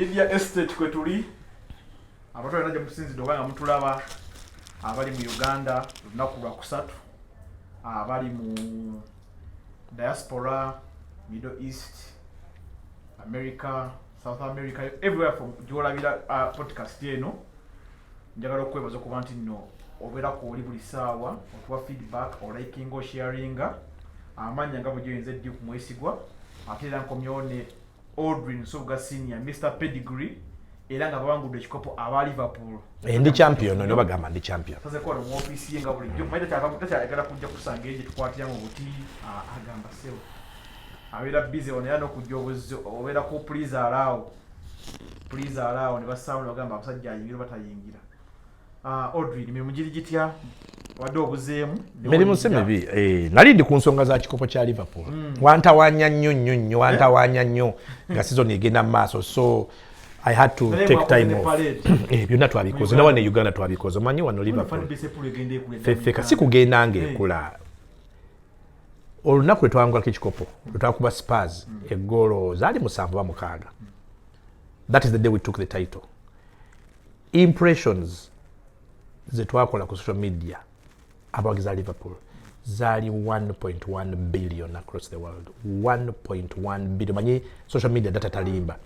Lydia Estate kwe tuli abantu balina gye musinzidde oba nga mutulaba abali mu Uganda olunaku lwa kusatu abali mu diaspora Middle East America South America everywhere from gyolabira uh, podcast eno njagala okwebaza okuba nti nno obeera ku oli buli saawa otuwa feedback olikinga osharinga amaanya nga bwe gyoyinza eddi ku mwesigwa ate era nkomyewo ne Audrey Nsubuga Senior, Mr Pedigree era nga bawangudde ekikopo aba Liverpool. Eh, ndi champion no bagamba ndi champion. Sasa kwa mu office yenga buli jjo maida kyava kutacha agala kujja kusanga eje tukwatira mu buti ah, agamba seo. Abera busy onera no kujja obuzzi obera ku please allow. Please allow ne basawo bagamba abasajja ayingira batayingira. Ah, Audrey, mirimu giri gitya wadde obuzeemu mirimu si mibi eh, nali ndi ku nsonga za kikopo kya liverpool mm. wantawanya nnyo nnyo nnyo eh? wantawanya nnyo nga sizoni egenda mu maaso so i had to Nale take time off eh, byonna twabikoze nawa ne uganda twabikoze omanyi wano liverpool fefeka si kugenda ngaekula olunaku lwetwangulako ekikopo lwetwakuba spars mm. eggoolo zaali musanvu ba mukaaga that is the day we took the title impressions zetwakola ku social media abawagiza liverpool zali 1.1 billion across the world 1.1 billion manyi social media data talimba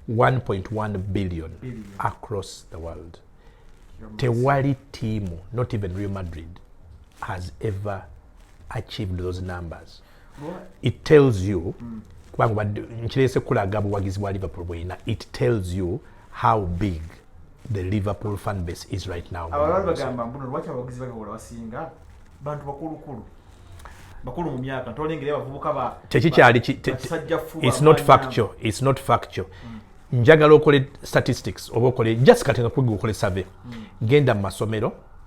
1.1 billion across the world tewali tiimu not even real madrid has ever achieved those numbers it tells you mm. kubanga nkirese kulaga buwagizi bwa liverpool bweyina it tells you how big the liverpool fan base is right now bantu bakulukulu bakulu mu myaka ntolengera abavubuka ba tekikyali it's not factual it's not factual mm. njagala okole statistics oba okole just kati nga kwiga okole survey mm. genda mu masomero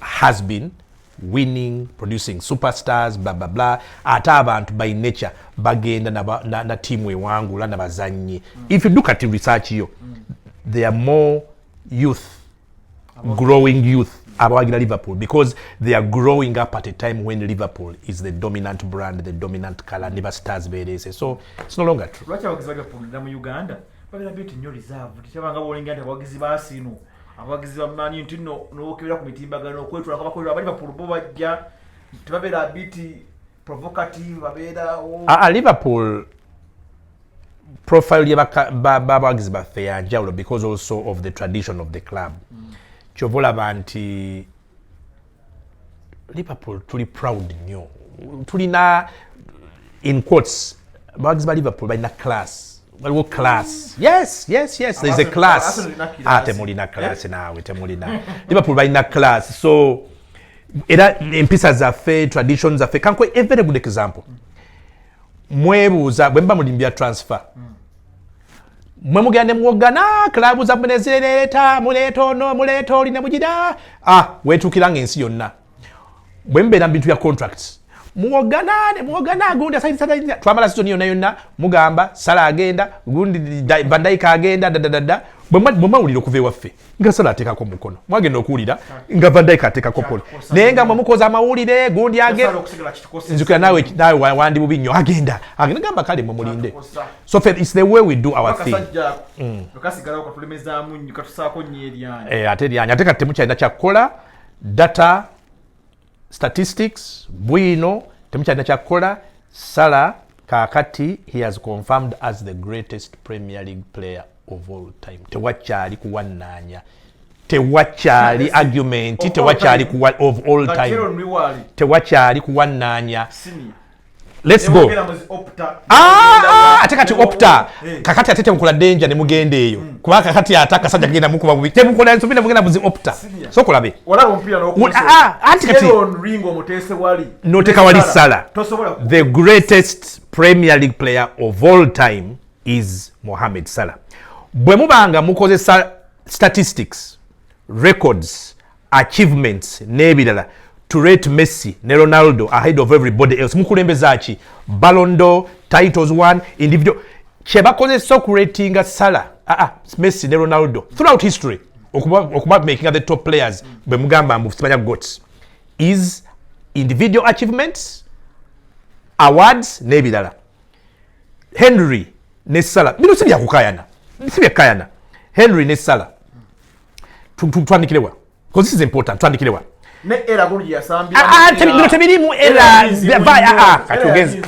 has been winning producing superstars bla bla bla ate abantu by nature bagenda na, na, na tiimu ewangula na bazannyi mm. if you look at research yo mm. there are more youth About growing youth abawagira liverpool because they are growing up at a time when liverpool is the dominant brand the dominant color ne bastars bereese so it's no longer true lwaki abawagizi bagapundira mu uganda babera byo tinyo reserve tekyabanga bolinga nti abawagizi baasiinu abawagizi ba Man United no nokebera ku mitimbagano okwetwala kabakolera abali Liverpool bo bajja tebabeera biti provocative babeera a ah, ah, Liverpool profile ya bawagizi baffe ya njawulo because also of the tradition of the club mm. kyovola banti liverpool tuli proud nyo tulina in quotes bawagizi ba liverpool balina class waliwo class yes yes yes there's a class ah temulina class eh? naawe temulina liverpool balina class so era empisa zaffe tradition zaffe kanko a very good example mm. mwebuuza bwe muba mulimu bya transfer mwe mugenda ne muwoggana club zammwe ne zireeta muleeta ono muleeta oli ne mugira ah, weetuukira nga ensi yonna bwe mubeera mu bintu bya contracts muwogana ne muwogana agundi asaidisadaia twamala sizoni yonna yonna mugamba sala agenda gundi bandayika agenda dadadada bwemawulira okuva ewaffe nga sala atekako mukono mwagenda okuwulira nga vandaika atekako kono naye nga mwemukoza amawulire gundi agenjukira nawe nawe wandi bubi nnyo agenda agenda gamba kale mumulinde so fe its the way we do our thing mm. eh, ate eryanya ate kati temukyalina kyakukola data statistics bwino temukyalina kyakukola sala kakati he has confirmed as the greatest premier league player of all time tewakyali kuwannaanya tewakyali argument tewakyali of all time tewakyali kuwannaanya Let's go. Ah, ah, ate kati opta eh. kakati ate temukola danger ne mugenda eyo hmm. kuba kakati ate akasajja kagenda mukuba bubi temukola nsobi ne mugenda buzi opta so kulabe ah, anti kati noteka wali sala the greatest premier league player of all time is mohamed salah bwe mubanga mukozesa statistics records achievements n'ebirala to rate Messi ne Ronaldo ahead of everybody else mukulembeza ki Ballon d'Or titles one individual kye bakozesa okuratinga Salah ah, ah, Messi ne Ronaldo throughout history okuba, okuba making the top players bwe mugamba mbu simanya goats is individual achievements awards n'ebirala Henry ne Salah bino si byakukayana si byakukayana Henry ne Salah twandikirewa because this is important twandikirewa ne era guli yasambira ah, ah, tebino tebirimu era ah, kati ogenze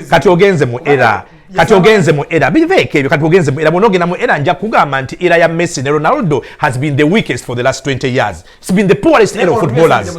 kati ogenze mu era kati ogenze mu era biveeko ebyo kati ogenze mu era bwonogenda mu era nja kugamba nti era ya messi ne ronaldo has been the weakest for the last 20 years its been the poorest era of footballers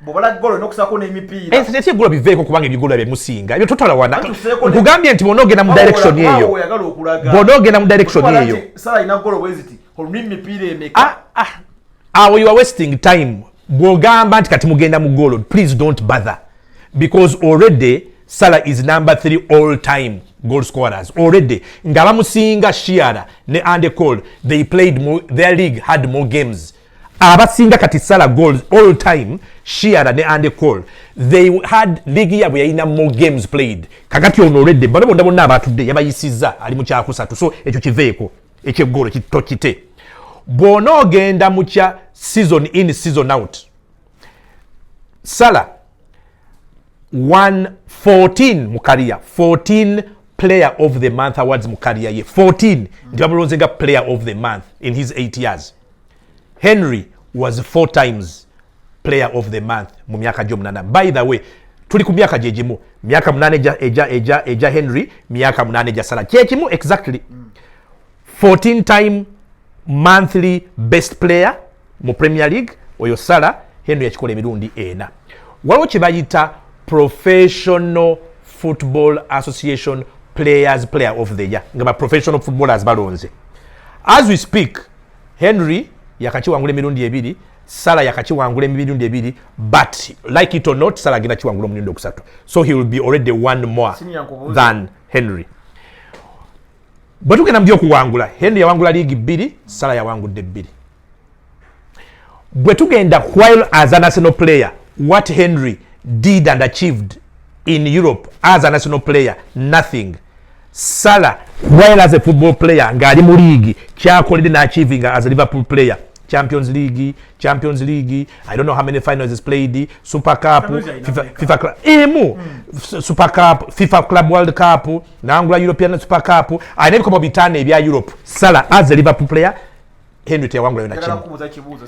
bwobalaggolnokusakonemipiiraekigula eh, biveeko kubanga ebigula byemusinga ebyo totwala wana nkugambye nti bona ogenda mu direction eyo bona ogenda mu direction eyo ah, ah. awo you are wasting time bwogamba nti kati mugenda mu golo please don't bother because already sala is number three all time goal scorers already nga bamusinga shiara ne andecol they played more, their league had more games abasinga kati sala goals all time shiara ne ande call they had league yabwe yalina more games played kakati ono olwedde bano bonna bonna abatudde yabayisizza ali mu kyakusatu so ekyo kiveeko ekyeggolo tokite bwona ogenda mu kya season in season out sala 114 mu kariya 14 player of the month awards mu kariya ye 14 nti bamulonze nga player of the month in his 8 years henry was four times player of the month mu myaka gyomunana by the way tuli ku myaka gyegimu myaka munana eja henry myaka munana eja sala kyekimu exactly 14 time monthly best player mu premier league oyo sala henry yakikola emirundi ena waliwo kyebayita professional football association players player of the year nga ba professional footballers balonze as we speak henry yakakiwangula emirundi ebiri sala yakakiwangula emirundi ebiri but like it or not sala agenda kiwangula omurundi okusatu so he will be already one more than henry bwe tugenda mu byokuwangula henry yawangula liigi bbiri sala yawangudde bbiri bwe tugenda while as a national player what henry did and achieved in europe as a national player nothing sala while as a football player ng'ali mu liigi kyakoledde n'achivinga as a liverpool player champions league champions league i don't know how many finals is played super cup fifa, FIFA club emu mm. super cup fifa club world cup nangula european super cup alina ebikomo bitaano ebya europe sala as a liverpool player henry teyawangula yona kimu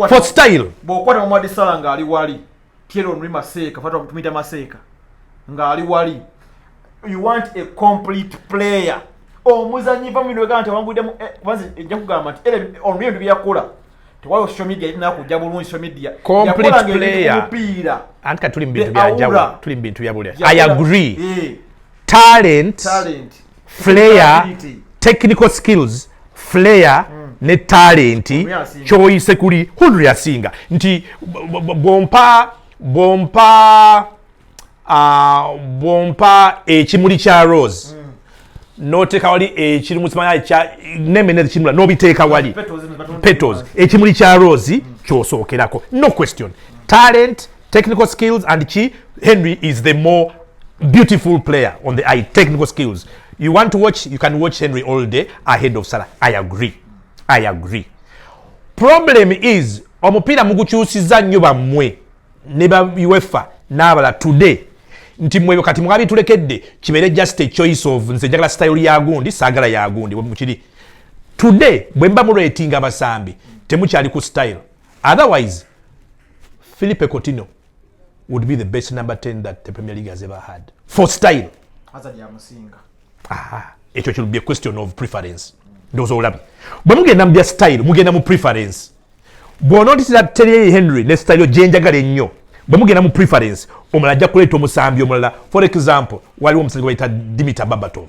for style bwokwata omwadi sala ng'ali wali Thierry Henry Maseka fatwa tumita Maseka ngali wali you want a complete player omuzanyi va mino gante wangude mu eh, kwanza ejja kugamba nti ele on real bya kula to wao social media ina ku jabu lungi social media complete player mpira anka tuli mbintu bya jabu tuli mbintu bya bule i agree yeah. talent talent flair technical skills flair mm. ne talenti kyoyise kuli hulu yasinga nti bwompa bwompa uh, bwompa ekimuli kya rose mm. noteka wali ekiri mukimanya nemene ekimula nobiteeka wali petals ekimuli kya rose mm. kyosookerako no question talent technical skills and ki henry is the more beautiful player on the eye technical skills you want to watch you can watch henry all day ahead of salah i agree i agree problem is omupiira mugukyusiza nnyo bammwe ne ba uefa n'abala today nti mwebyo kati mwabitulekedde kibeere just a choice of nze njagala style yagundi saagala yagundi bwemukiri today bwe mba muretinga abasambi temukyali ku style otherwise Philippe Coutinho would be the best number 10 that the Premier League has ever had for style. Hazard ya musinga. Ah, ekyo kiri be question of preference. Ndoza olabi. Bwe mugenda mu style, mugenda mu preference. Bwe onotisa Terry Henry ne style yo jenjagala ennyo. Bwe mugenda mu preference, omala ajja kuleeta omusambi omulala. For example, waliwo omusajja gwayita Dimitar Babatov.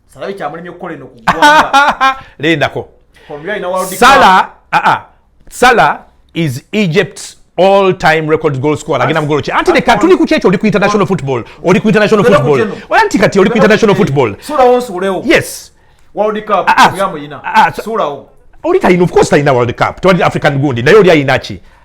salawi kyamulemye okukola eno kugwanga lindako sala ah, ah. sala is egypt's all time record goal scorer agenda mugolo ki anti leka tuli ku kyekyo oli ku international football oli ku international football ola nti kati oli ku international football yes world cup ah, ah. yamuyina ah, sulawo oli talina of course talina world cup tewali african gundi naye oli ayina ki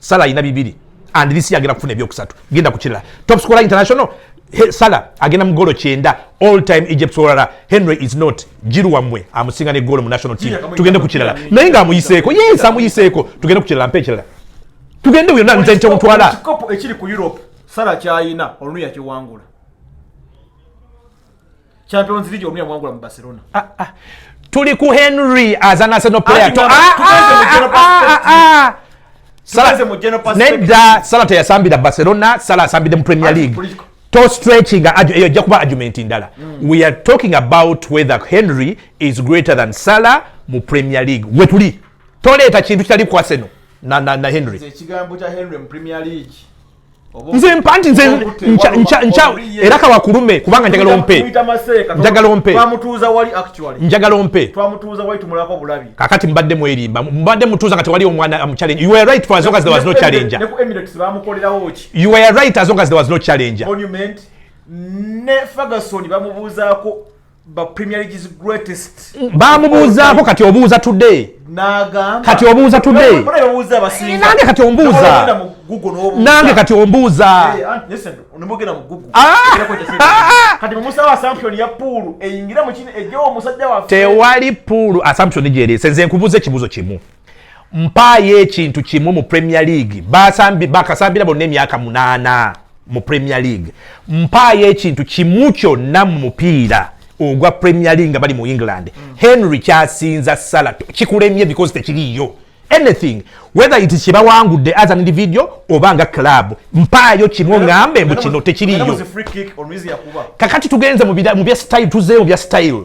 sala alina bibiri and this year agenda kufuna ebyokusatu genda ku kirala top scorer international He, sala agenda mugolo kyenda all time egypt olala henry is not jiru wamwe amusinga ne golo mu national team tugende ku kirala naye nga amuyiseeko yes amuyiseeko tugende ku kirala mpa ekirala tugende yonna nze nte mutwala ekikopo ekiri ku europe sala kyayina oluyakiwangula Champions League omya mwangula mu Barcelona. Ah ah. Tuli ku Henry as an Arsenal player. To ah ah. Salaze mu general perspective. Nedda Salata yasambira Barcelona, Salah asambide mu Premier League. To stretching ajo eyo ja kuba argument ndala. Mm. We are talking about whether Henry is greater than Salah mu Premier League. Wetuli. Toleeta kintu kitali ku Arsenal na na, na Henry. Ekigambo cha Henry mu Premier League. nze mpa nti nze era kawakulume kubanga njagala ompe njagala ompe njagala ompe kakati mbadde mwerimba mbadde mutuuza nga tewali omwana amuchallenge you were right for as long as there was no challenge you were right as long as there was no challenge ne ferguson bamubuuzaako bamubuuzaako kati obuuza today kati obuuza today nange kati ombuuza nange kati ombuuza tewali puulu assumption gyeri senze nkubuuza ekibuuzo kimu mpaayo ekintu kimu mu premier league bakasambira bonna emyaka munaana mu premier league mpaayo ekintu kimu kyonna mu mupiira ogwa premier league nga bali mu england mm. henry kyasinza sala kikulemye because tekiriiyo anything whether it kibawangudde as an individual oba nga club mpaayo kimu oŋambe mbu kino tekiriiyo kakati tugenze mu bya style tuzeeyo mu bya style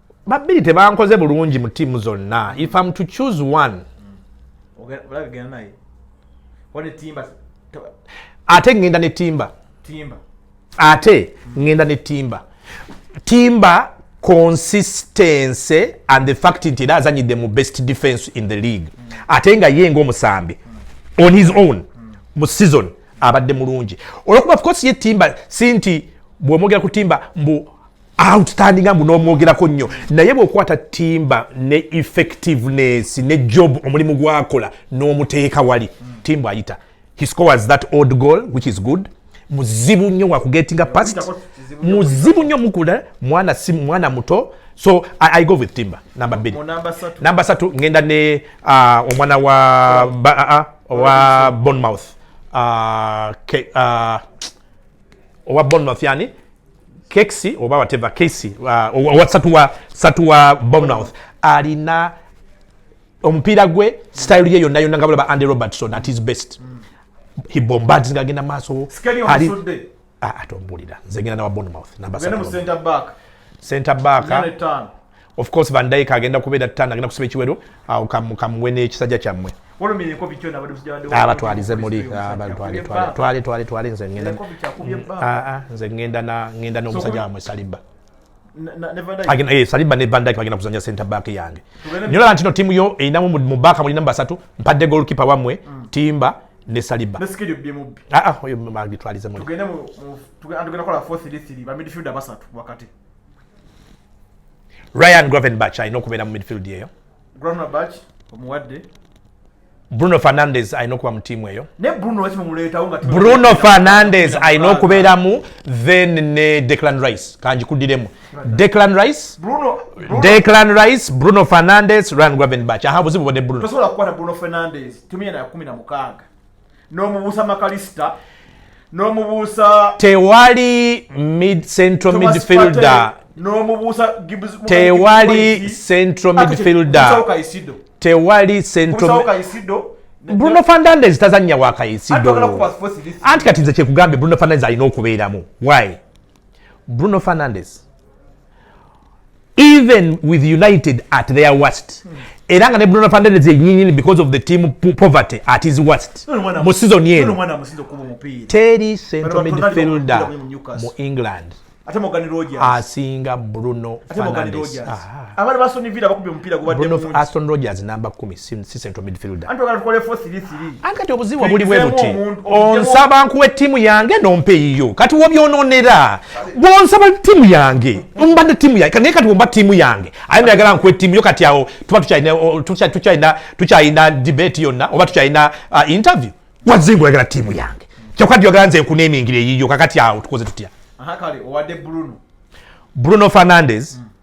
babbiri tebankoze bulungi mu tiimu zonna if am to choose one ate ngenda ne timba ate ngenda ne timba timba consistency and the fact nti era azanyidde mu best defense in the league ate nga ye ngaomusambi on his own mu season abadde mulungi olwokuba of course ye timba si nti bwomwogera ku timba mbu outstanding mbu n'omwogerako nnyo naye bw'okwata timba ne effectiveness ne job omulimu gwakola n'omuteeka wali timba ayita he scores that old goal which is good muzibu nnyo wakugetinga past muzibu nnyo mukula mwana si mwana muto so I, I go with timba namba bbiri namba satu ngenda ne uh, omwana wa, ba, uh, uh, uh wa bonmouth uh, ke, uh, owa bonmouth yani kexi oba wateva kesi uh, satuwa satuwa bomnouth alina omupiira gwe style ye yonna yonna nga bulaba andy robertson at his best mm. he bombards nga agenda maaso ali ah, atombulira nze ngenda nawa bonmouth namba center back of course van dyke agenda kubeera tano agenda kusiba ekiwero awo kamuwe n'ekisajja kyammwe abatwalize muli twale twale twale nze ngenda mm, ah, ah, nze ngenda na ngenda n'omusajja wamwe saliba eh, saliba ne van dyke bagenda kuzanya center back yange nyola ntino timu yo erinamu mubaka mulina basatu mpadde golkipe wamwe mm. timba ne saliba ah, oyo agitwalize muli Ryan Gravenberch alina okubeera mu midfield eyo. Gravenberch omuwadde. Bruno Fernandes alina okuba mu tiimu eyo. Ne Bruno waki mumuleetawo nga Bruno Fernandes alina okubeeramu then ne Declan Rice kanjikudiremu. Declan Rice. Bruno, Bruno. Declan Rice, Bruno Fernandes, Ryan Gravenberch. Aha buzibu bode Bruno. Tosobola kukwata Bruno Fernandes. Tumia na 16. n'omubuusa makalisita n'omubuusa tewali mid central midfielder n'omubuusa tewali central midfielder tewali central bruno fernandez tazannya wa kayisido anti kati nze kyekugambye bruno fernandez alina okubeeramu why Bruno Fernandes even with United at their worst mm. era nga ne Bruno Fernandes yenyini because of the team poverty at his worst mu season yenu teri central midfielder mu England ate Morgan Rogers asinga Bruno Fernandes ah. abana basoni villa bakubye mpira gubadde mu Aston Rogers number 10 si central midfielder anti ogala tukole 433 anti kati obuzibu buli bwe buti onsaba nkuwe timu yange nompa eyiyo kati wobyononera bwonsaba timu yange mbadde timu yange naye kati womba timu yange aye nayagala nkuwe timu yo kati awo tuba tukyalina tukyalina debate yonna oba tukyalina uh, interview wazingu oyagala timu yange kyokka tyoyagala nze nkunemingira eyiyo kakati awo tukoze tutya kale owadde bruno bruno fernandes mm.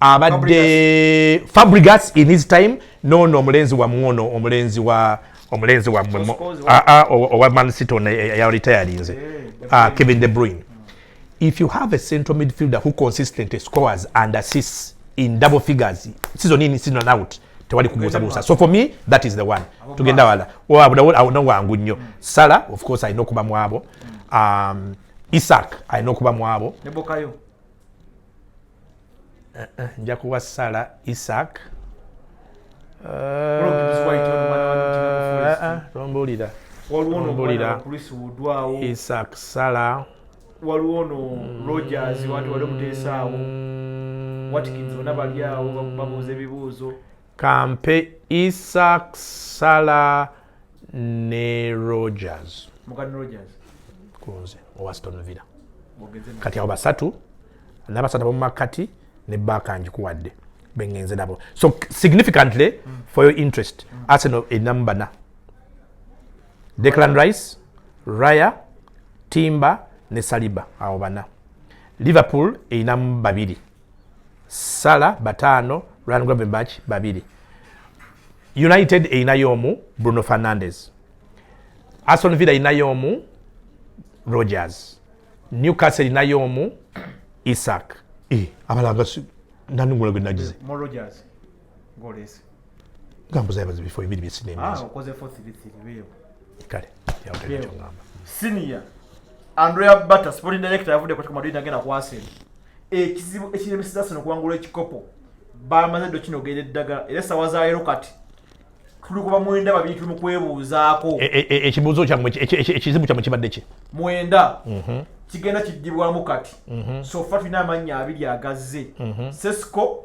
abadde fabrigas in his time nono omulenzi wamwe ono omulenzi wa omulenzi wamwe ah, ah, owa mancity ono eyaritayalinze eh, eh, ah, kevin de bruin if you have a central midfielder who consistently scores and assists in double figures season in season and out tewali kubuusabuusa so for me that is the one tugenda wala awona wangu nnyo hmm. sala of course alina okuba mwabo hmm. um, isak alina okuba mwabo nja kuwa sala isak tombulira tombulira isak sala waliwo ono mm. rogers wati wali omuteesaawo watkins bona bali awo babuuza ebibuuzo kampe isak sala ne rogers kunze owa stone villa kati abo basatu nabasatu abomumakati ne baka njikuwadde bengenze nabo so significantly mm. for your interest mm. arsenal erinamu bana declan rice raya timba ne saliba abo bana liverpool erinamu babiri sala bataano ryan gravenbach babiri united erinayo omu bruno fernandez aston villa erinayo omu rogers newcastle erinayo omu isaac eh, abalanga nanungula gwe nagize ngolese gambuza yabazi bifo bibiri byesinema ah okoze for three three wewe kale yawutenda kyongamba senior andrea butter sporting director yavude kwa madrid agenda kwa arsenal ekizibu ekiremeseza arsenal kuwangula ekikopo bamaze ddo kino ogenda eddagala era esawa zaero kati tuli kuba mwenda babiri tuli mukwebuuzaako e, e, e, ekibuuzo kyamwe ekizibu kyamwe kibadde ki mwenda mhm. kigenda kiddibwamu kati mhm. sofa tulina amannya abiri agazze mhm. sesco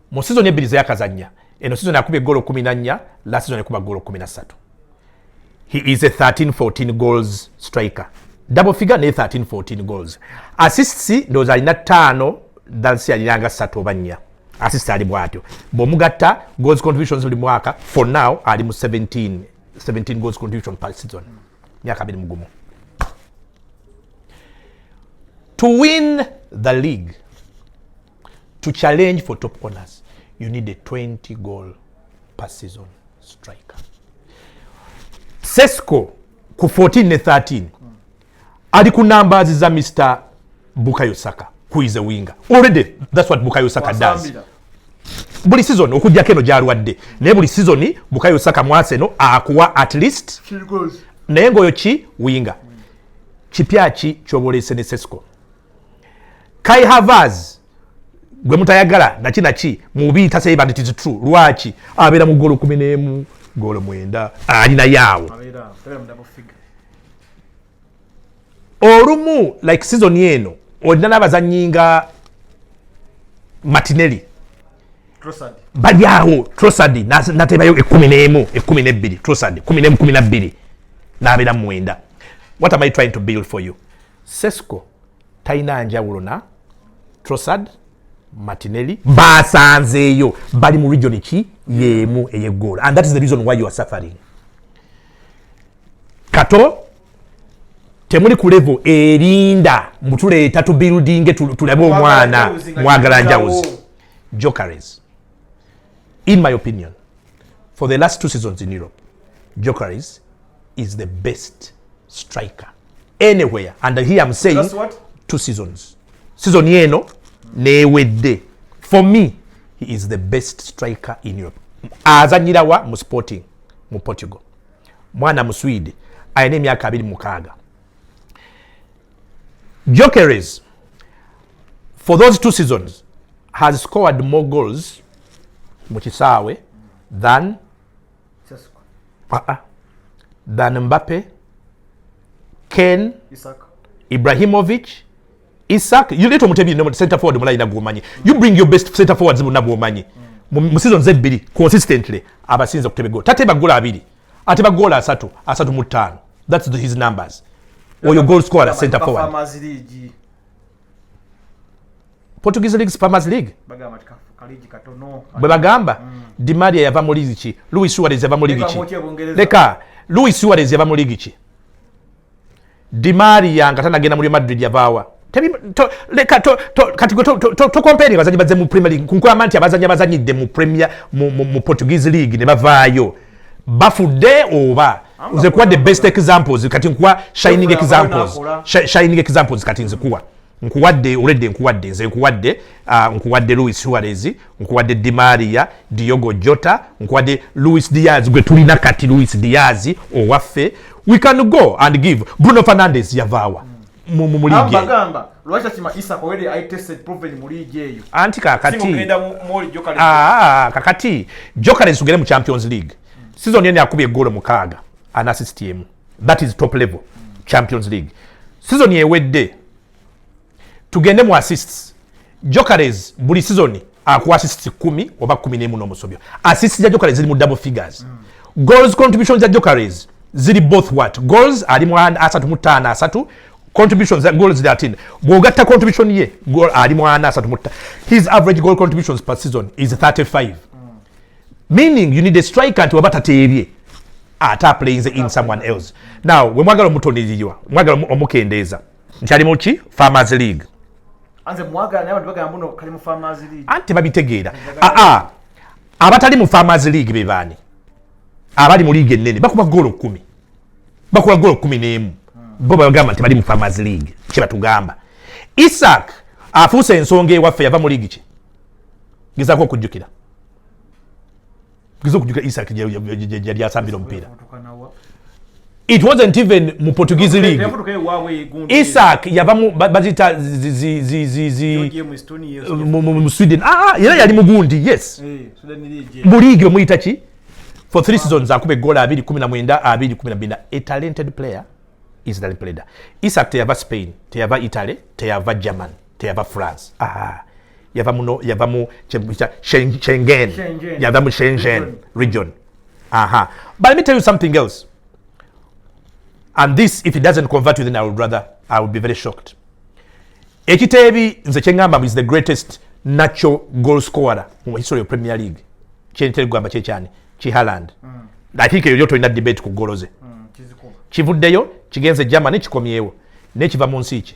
mu sizoni ebbiri zeyakazannya eno sizoni akuba egoolo kumi na nnya la sizoni ekuba goolo kumi na ssatu he is a 1314 goals striker double figure naye 1314 goals assists ndowooza alina ttaano dansi alinanga ssatu oba nnya assist ali bwatyo bwomugatta goals contributions buli mwaka for now ali mu 17 17 goals contribution per season myaka abiri mugumu to win the league to challenge for top corners you need a 20 goal per season striker sesco ku 14 ne 13 ali ku numbers za mr bukayo saka who is a winger already that's what bukayo saka does buli season okujjako eno gyalwadde naye buli season bukayo saka mwaseno akuwa at least naye ngaoyo ki winga kipya ki kyoboleese ne sesco kai havas gwe mutayagala naki naki mubi tasaye bandi tizi true lwaki abeera mu golo kumi n'emu golo mwenda ali naye awo olumu like sizoni eno olina n'abazannyi nga matineli bali awo trosadi natebayo ekumi n'emu ekumi n'ebbiri trosadi kumi n'emu kumi na bbiri n'abeera mu mwenda what am i trying to build for you sesco talina njawulo na trosad matineli basanzeeyo bali mu region ki yeemu eyegoola and that is the reason why you are suffering kato temuli ku level erinda mutuleeta tubuildinge tulabe omwana mwagala njawuzi jokeries in my opinion for the last two seasons in europe jokeries is the best striker anywhere and here I'm saying two seasons season eno newedde for me he is the best striker in Europe azanyirawa mu sporting mu Portugal mwana mu Swede alina emyaka abiri mukaaga Jokeres for those two seasons has scored more goals mu kisaawe than ah, ah. than Mbappe, Ken, Isak. Ibrahimovic, Isak. You little mutebi no center forward mulai na gumanyi. You bring your best center forwards na gumanyi. Mm. Mu season zebbiri consistently abasinza kutebe goal. Tate bagola abiri. Ate bagola asatu, asatu mu ttaano. That's the, his numbers. Oyo goal scorer center forward. Portuguese League Spamers League bwe bagamba mm. Di Maria yava mu ligi ki Luis Suarez yava mu ligi ki leka Luis Suarez yava mu ligi ki Di Maria nga tanagenda mu Real Madrid yavaawa leka kati gwe tokompere abazanyi bazze mu Premier League kunkulama nti abazanyi abazanyidde mu Premier mu Portuguese League ne bavaayo bafudde oba nze kuwa the best examples kati nkuwa shining examples shining examples kati nzikuwa nkuwadde oledde nkuwadde nze nkuwadde ah, nkuwadde louis suarez nkuwadde dimaria diogo jota nkuwadde louis diaz gwe tulina kati louis diaz owaffe we can go and give bruno fernandez yavaawa mm. mu mu muligi abagamba lwacha kima isa ko wede i tested proven mu ligi eyo anti kakati singo kenda mu mall joker ah kakati joker nsugere mu champions league mm. season yene akubye goal mu kaga an assist yemu that is top level mm. champions league season yewedde tugende mu assists Jokeres buli season akuwa assist 10 oba 11 n'omusobyo. Assist za Jokeres ziri mu double figures. Mm. Goals contribution za Jokeres ziri both what? Goals ali mu asatu mu tano asatu contributions za goals za tin. Bwogatta contribution ye goal ali mu ana asatu mu tano. His average goal contributions per season is 35. Mm. Meaning you need a striker to abata tebye. Ata plays in someone else. Now, we mwagala mutoniriwa. Mwagala omukendeeza. nkyali muki farmers league anti babitegeera aa ah, ah. abatali mu farmers league bebaani abali mu liiga ennene bakuba goolo kumi bakuba goolo kumi n'emu bo bagamba nti bali mu farmers league kyebatugamba isak afuuse ensonga ewaffe yava mu liigi ki gezako okujjukira kiza okujuka isak yali asambira omupiira it wasn't even mu portuguese league isak yava bazita mu sweden ah, ah, era yali mugundi yes eh, mu league omuyita ki for three seasons akuba egola abiri kumi na mwenda abiri kumi na bina a talented player israel player isak teyava spain teyava italy teyava german teyava france ah. yava muno yava mu shengen yava mu shengen region aha but let me tell you something else and this if it doesn't convert you then i would rather i would be very shocked ekiteebi nze kyeŋamba is the greatest natural goal scorer mu history of premier league kyentera kugamba kyekyani kihaland mm. i think eyo lyo tolina debate ku goloze mm, kivuddeyo kigenze germany kikomyewo nekiva mu nsi ki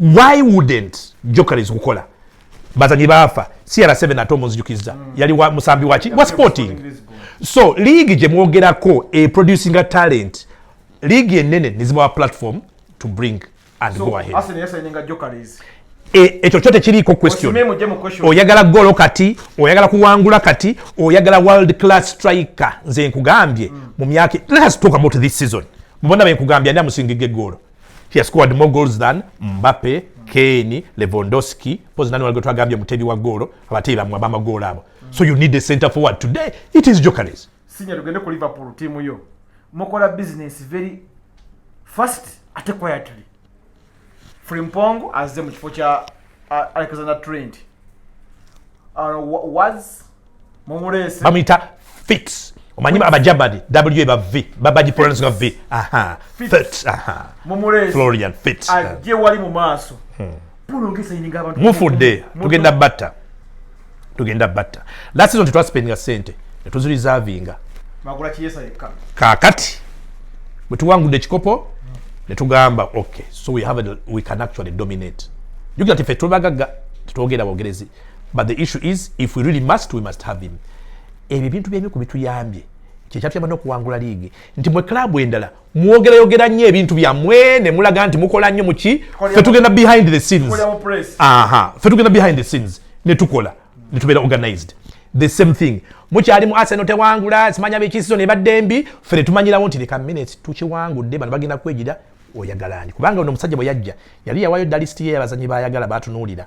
why wouldn't jokeries kukola bazanyi baafa cr7 ate omunzijukizza mm. yali wa musambi waki wa sporting so league gye mwogerako e producing a talent league enene nezibawa platform to bring and so, go ahead e, ekyo kyo tekiriiko question oyagala golo kati oyagala kuwangula kati oyagala world class striker nze nkugambye mm. mu myaka let us talk about this season mubona benkugambye ani amusinga egegolo He has scored more goals than Mbappe, Kane, Lewandowski. Pose nani waligo twagambye mutebi wa goal abateyi bamwe abama goal abo. So you need a center forward today. It is Jokeres. Senior tugende ku Liverpool team yo. Mukola business very fast ate quietly. Frimpong azze mu kifo kya uh, Alexander Trent. Uh, was bamuyita fits omanyi abajabadi w ba v babagipronounce nga v aha fits aha florian fits ajje wali mu maaso hmm. mufudde tugenda batta tugenda batta last season tetwasipendinga sente netuzirizavinga kakati bwetuwangudde ekikopo netugamba okay so we have a, we can actually dominate jukira tife tuli bagagga tetwogera bogerezi but the issue is if we really must we must have him ebyo ebintu byebi ku bituyambye kyekyatuyamba nokuwangula liigi nti mwe club endala mwogerayogera nnyo ebintu byammwe ne mulaga nti mukola nnyo muki fe tugenda behind the scenes aha fe tugenda behind the scenes ne tukola ne tubeera organized the same thing mukyali mu arsenal tewangula simanya biki season ebadde mbi fe netumanyirawo nti leka minutes tukiwangudde bano bagenda kwejira oyagalani kubanga ono omusajja bwe yajja yali yawayo dalist ye yabazanyi bayagala batunuulira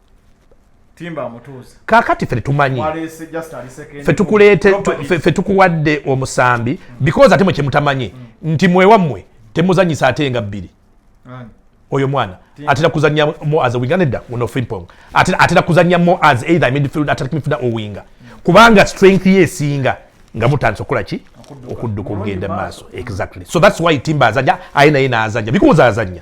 kakati fe tetumanyi fe tukuwadde omusambi because ate mwe kyemutamanyi mm. nti mwewammwe temuzanyisa ate nga bbiri oyo mwana atera kuzanya mo as winga nedda uno frimpong atera kuzanya mo as either midfield atera kumifuna owinga kubanga strength ye esinga nga mutandise okukola ki okudduka okugenda maaso exactly so that's why timba azanya aye naye naazanya because azanya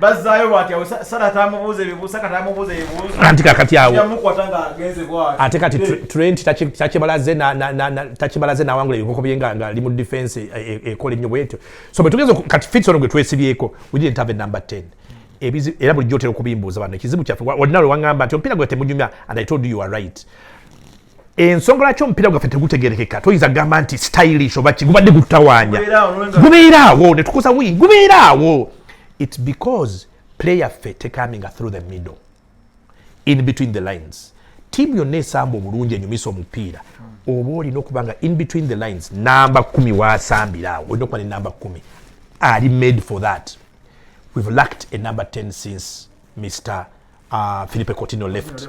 bazzaayo bwati awo sala atamubuuza ebibuusa kati amubuuza ebibuusa anti kakati awo yamukwata nga agenze bwati ate kati trent takibalaze takibalaze n'awangula ebikoko bye nga ali mu defense e, e, ekola ennyo bwetyo so bwe tugeze kati fits ono gwe twesibyeko we didn't have a number 10 ebizi era bulijjo otera okubimbuuza bano ekizibu kyaffe olina lwe waŋŋamba nti omupiira gwe temunyumya and i told you you are right ensonga lwaki omupiira gwaffe tegutegerekeka toyinza kugamba nti stylish oba ki gubadde gututawaanya gubeeraawo ne tukosa wii gubeeraawo its because player ffe tekaminga through the middle in between the lines tiimu yonna esamba obulungi enyumisa omupiira oba olina okuba nga in between the lines namba kumi wasambira awo olina okuba ne namba kumi ali made for that we've lacked a number 10 since mr uh, philipe cotino left, left.